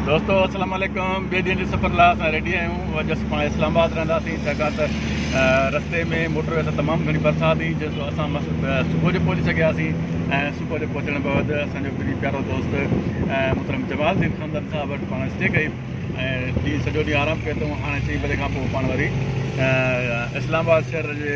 دوستو السلام عليڪم ٻي ڏينهن جي سفر لاء اسان ريڊي آهيون اڄ اسان پاڻ اسلام آباد رهنداسين ڇاڪاڻ ته رستي ۾ موٽر وي تي تمام گهڻي برسات هئي جنهن سو اسان صبح جو پهچي سگهياسين ۽ صبح جو پهچڻ بعد اسان جو پري پيارو دوست محترم جمال الدين خاندان صاحب وٽ پاڻ اسٽي ڪئي ۽ ڏينهن سڄو ڏينهن آرام ڪيو اٿئون هاڻي چئي بجي کان پوء پاڻ وري اسلام آباد شهر جي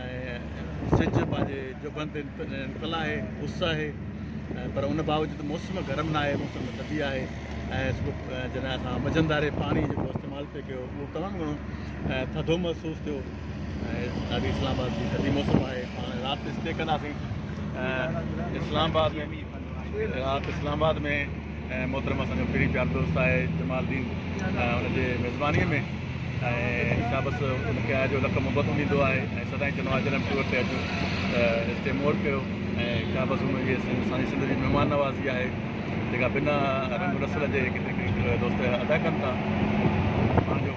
۽ سج پنهنجي جبهن تي نڪتل آهي، اس آهي ۽ پر ان باوجود موسم گرم ناهي، موسم معتدي آهي ۽ جڏهن اسان مجنداري پاڻي جيڪو استعمال پي ڪيو اهو تمام گهڻو ٿڌو محسوس ٿيو ۽ ڏاڍي اسلام آباد جي ٿڌي موسم آهي، پاڻ رات اسٽي ڪنداسين ۽ اسلام آباد ۾ رات اسلام آباد ۾ محترم اسان جو پھرين پيار دوست آهي جمال الدين ان جي ميزباني ۾ ۽ اسان بس ان کي آهي جو لک محبت ڏيندو آهي ۽ سدائين چوندو آهي جڏهن ٽور تي اچو ته اسٽي مور ڪيو ۽ ڪا بس ان جي اسان سنڌ جي مهمان نوازي آهي جيڪا بنا رنگ رسل جي ڪٿي ڪري دوست ادا ڪن ٿا پنهنجو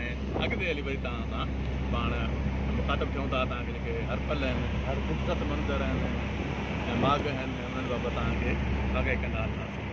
۽ اڳ تي هلي وري توهان سان پاڻ مخاطب ٿيون ٿا توهان کي جيڪي هر پل آهن هر خوبصورت منظر آهن ۽ ماڳ آهن انهن بابت توهان کي آگاهي ڪندا رهنداسين.